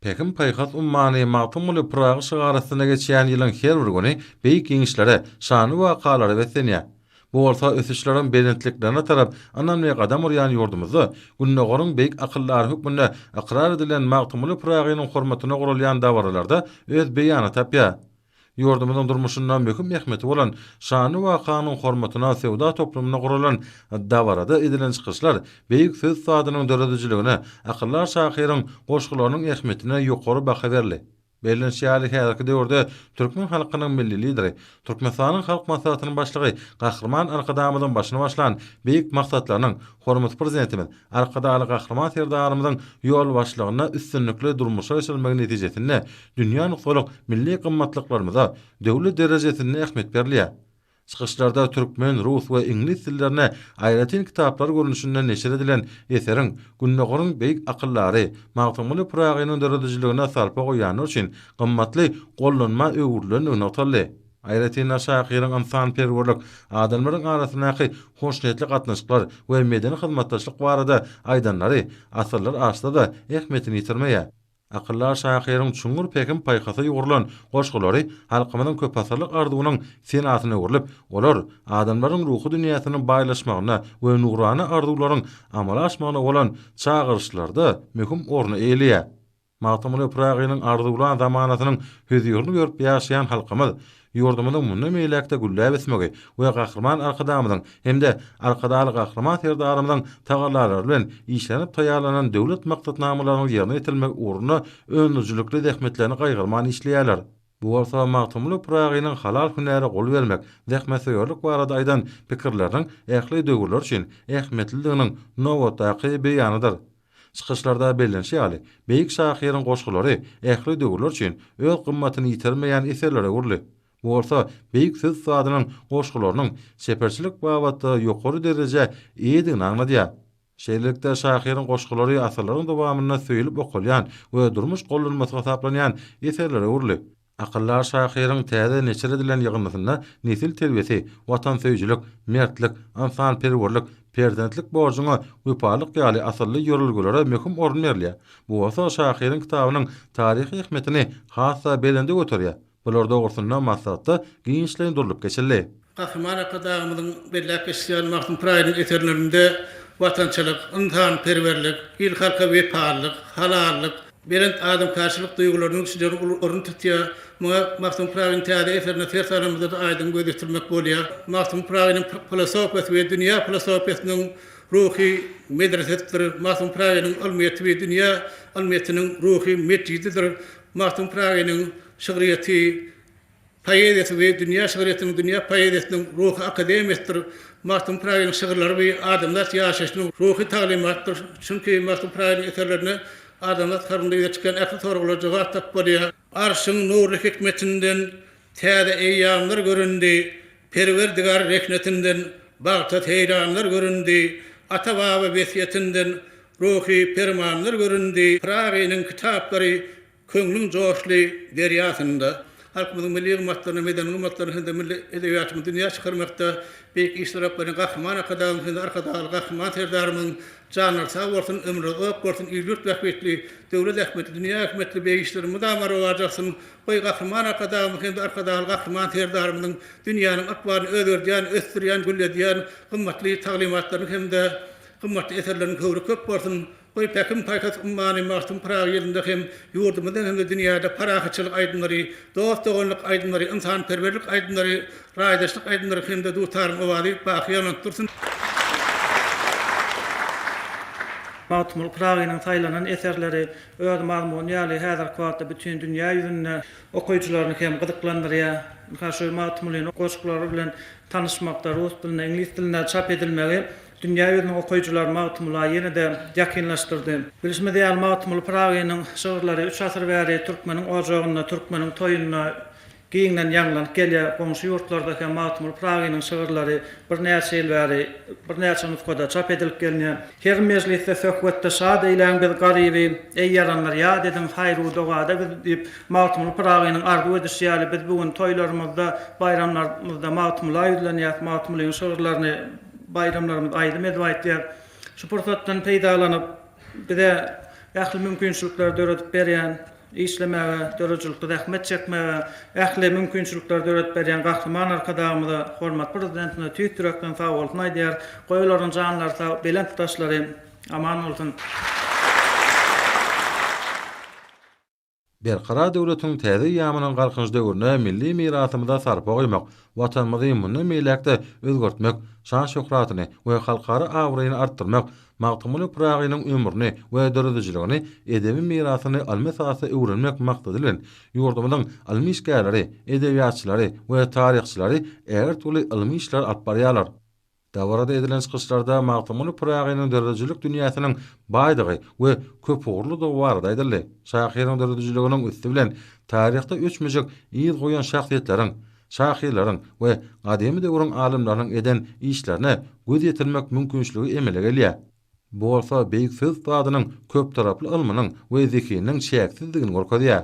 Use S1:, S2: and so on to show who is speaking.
S1: Pähim-paýhas ummany Magtymguly Pyragy şygary astynda geçýän ýylyň her bir güni beýik ýeňişlere, şanly wakalara beslenýär. Bu bolsa ösüşleriň belentliklerine tarap ynamly gadam urýan ýurdumyzda Gündogaryň beýik akyldary hökmünde ykrar edilen Magtymguly Pyragynyň hormatyna guralýan dabaralarda öz beýanyny tapýar. Ýurdumyzyň durmuşynda möhüm ähmiýeti bolan şanly wakanyň hormatyna söwda toplumynda guralan dabarada edilen çykyşlar beýik söz usadynyň döredijiligine, akyldar şahyryň goşgularynyň ähmiýetine ýokary baha berildi. Bellenişi ýaly, häzirki döwürde türkmen halkynyň Milli Lideri, Türkmenistanyň Halk Maslahatynyň Başlygy Gahryman Arkadagymyzyň başyny başlan beýik maksatlarynyň, hormatly Prezidentimiz Arkadagly Gahryman Serdarymyzyň ýolbaşçylygynda üstünlikli durmuşa geçirilmegi netijesinde dünýä nusgalyk milli gymmatlyklarymyza döwlet derejesinde ähmiýet berilýär. Çykyşlarda türkmen, rus we iňlis dillerine aýratyn kitaplar görnüşinde neşir edilen eseriň Gündogaryň beýik akyldary Magtymguly Pyragynyň döredijiligine sarpa goýanlar üçin gymmatly gollanma öwrülendigi nygtaldy. Aýratyn-da, şahyryň ynsanperwerlik, adamlaryň arasyndaky hoşniýetli gatnaşyklar we medeni hyzmatdaşlyk barada aýdanlary asyrlar aşsa-da, ähmiýetini ýitirmeýär. Akyldar şahyryň çuňňur pähim-paýhasa ýugrulan goşgulary halkymyzyň köpasyrlyk arzuwynyň senasyna öwrülip, olar adamlaryň ruhy dünýäsiniň baýlaşmagyna we nurana arzuwlaryň amala aşmagyna bolan çagyryşlarda möhüm orny eýeleýär. Magtymguly Pyragynyň arzuwlan zamanasynyň hözirini görüp ýaşaýan halkymyz Ýurdumyzyň mundan beýläk-de gülläp ösmegi we Gahryman Arkadagymyzyň hem-de Arkadagly Gahryman Serdarymyzyň tagallalary bilen işlenip taýýarlanan döwlet maksatnamalarynyň ýerine ýetirilmegi ugrunda öndürijilikli zähmetlerini gaýgyrman işleýärler. Bu bolsa Magtymguly Pyragynyň halal hünäre gol bermek, zähmetsöýerlik barada aýdan pikirleriniň ähli döwürler üçin ähmiýetlidiginiň nobatdaky beýanydyr. Çykyşlarda bellenişi ýaly, beýik şahyryň goşgulary ähli döwürler üçin öz gymmatyny ýitirmeýän eserlere öwrüldi. Bu bolsa beýik söz ussadynyň goşgularynyň çeperçilik babatda ýokary derejä eýedigini aňladýar. Şeýlelikde, şahyryň goşgulary asyrlaryň dowamynda söýlüp okalýan we durmuş gollanmasy hasaplanýan eserlere öwrüldi. Akyldar şahyryň täze neşir edilen ýygyndysynda nesil terbiýesi, watansöýüjilik, mertlik, ynsanperwerlik, perzentlik borjuňa wepalyk ýaly asylly ýörelgelere möhüm orun berilýär. Bu bolsa şahyryň kitabynyň taryhy ähmiýetini has-da belende göterýär. Bular dogrusynda maslahatda giňişleýin durlup geçildi. Gahryman
S2: Arkadagymyzyň belläp geçýän Magtym Pyragynyň eserlerinde watançylyk, ynsanperwerlik, il-halka wepalylyk, halallyk, belent adamkärçilik duýgularynyň kişileriň uly ornuny tutýar. Muňa Magtym Pyragynyň täze eserine ser salanymyzda-da aýdyň göz ýetirmek bolýar. Magtym Pyragynyň filosofiýasy we dünýä filosofiýasynyň ruhy medresesidir. Magtym Pyragynyň ylmyýeti we dünýä ylmyýetiniň ruhy metjididir. Magtym Pyragynyň şygryýeti poeziýasy we dünýä şygryýetiniň dünýä poeziýasynyň ruhy akademiýasydyr. Magtym Pyragynyň şygyrlary we adamzat ýaşaýşynyň ruhy taglymatydyr. Çünki Magtym Pyragynyň eserlerinde adamzat kalbynda ýüze çykýan ähli soraglara jogap tapyp bolýar. Arşyň nurly hikmetinden Täze eýýamlar göründi. Perwerdigär rehnetinden Bagta seýranlar göründi. Ata-baba wesýetinden Ruhy permanlar göründi. Pyragynyň kitaplary Köňlüň joşly derýasynda halkymyzyň milli gymmatlaryny, medeni gymmatlaryny hem-de milli edebiýatymyzy dünýä çykarmakda beýik işleri alyp barýan Gahryman Arkadagymyzyň hem-de Arkadagly Gahryman Serdarymyzyň janlary sag bolsun, ömürleri uzak bolsun, il-ýurt bähbitli, döwlet ähmiýetli, dünýä ähmiýetli beýik işleri mydama rowaja alsyn! Goý, Gahryman Arkadagymyz hem-de Arkadagly Gahryman Serdarymyzyň dünýäniň ykbalyny özgerdýän, ösdürýän, gülledýän gymmatly taglymatlarynyň hem-de gymmatly eserleriniň höwri köp bolsun! Goý, päkim paýhas ummany Magtym Pyragy ýylynda hem ýurdumyzda hem-de dünýäde parahatçylyk aýdymlary, dost-doganlyk aýdymlary, ynsanperwerlik aýdymlary, raýdaşlyk aýdymlary hem-de Dutaryň owazy baky ýaňlanyp dursun!
S3: Magtymguly Pyragynyň saýlanan eserleri öz mazmuny ýaly häzirki wagtda bütin dünýä ýüzünde okyjylaryny hem gyzyklandyrýar. Şu Magtymgulynyň goşgulary bilen tanyşmakda rus dilinde, iňlis dilinde çap edilmegi Dünýä ýüzüniň okyjylary Magtymgula ýene-de ýakynlaşdyrdy. Bilşimiz ýaly, Magtymguly Pyragynyň şygyrlary üç asyr bäri türkmeniň ojagynda, türkmeniň toýunda giňden ýaňlanyp gelýär. Goňşy ýurtlarda hem Magtymguly Pyragynyň şygyrlary birnäçe ýyl bäri birnäçe nusgada çap edilip gelýär. Her mejlisde, söhbetde şat eýläň biz Garyby, Eý, ýaranlar, ýat ediň haýru-dogada bizi diýip, Magtymguly Pyragynyň arzuw edişi ýaly, biz bu gün toýlarymyzda, baýramlarymyzda Magtymgula ýüzlenýäs, Magtymgulynyň şygyrlaryny Baýramlarymyz aýdym edip aýtýar. Şu pursatdan peýdalanyp, bize ähli mümkinçilikleri döredip berýän, işlemäge, döredijilikde zähmet çekmäge ähli mümkinçilikleri döredip berýän Gahryman Arkadagymyza, hormatly Prezidentimize tüýs ýürekden sagbolsun aýdýarys. Goý olaryň janlary sag, belent daşlary aman bolsun!
S1: Berkarar döwletiň täze eýýamynyň Galkynyş döwründe milli mirasymyza sarpa goýmak, Watanymyzy mundan beýläk-de özgertmek, şan-şöhratyny we halkara abraýyny artdyrmak, Magtymguly Pyragynyň ömrüni we döredijiligini, edebi mirasyny ylmy esasda öwrenmek maksady bilen, ýurdumyzyň ylmy işgärleri, edebiýatçylary we taryhçylary ägirt uly ylmy işleri alyp barýarlar. Dabarada edilen çykyşlarda Magtymguly Pyragynyň döredijilik dünýäsiniň baýdygy we köpugurlydygy barada aýdyldy. Şahyryň döredijiliginiň üsti bilen taryhda öçmejek yz goýan şahsyýetleriň, şahyrlaryň we gadymy döwrüň alymlarynyň eden işlerine göz ýetirmek mümkinçiligi emele gelýär. Bu bolsa beýik söz ustadynyň köptaraply ylmynyň we zehininiň çäksizdigini görkezýär.